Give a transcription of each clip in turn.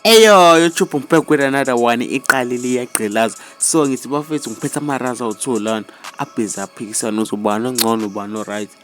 eyoyo tshubhu ngiphe kwena another one iqalile iyagqilaza so ngithi bafethu ngiphethe amaraza awu-two lana abhizi aphikisana uzobani ongcono ubani o-right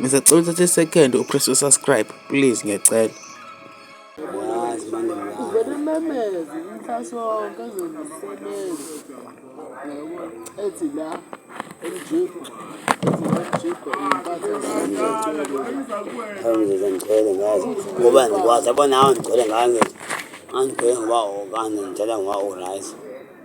Ngisacela uthathe second upress usubscribe please ngiyacela. Ubelimemeze umfaso wonke ezomsebenzi. Ethi la emjipho. Angizizwa ngigcwele ngazo ngoba ngikwazi yabona awu ngigcwele ngazo angigcwele ngoba okanye ngitshela ngoba o-right.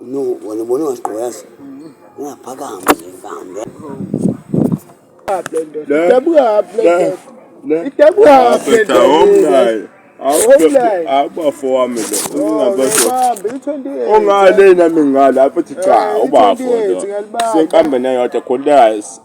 No, wena ubona ungaqoyazi. Ungaphakama nje mfana. abafo wami ongale nami ngale apho thi cha ubafo senkambe neyodwa khona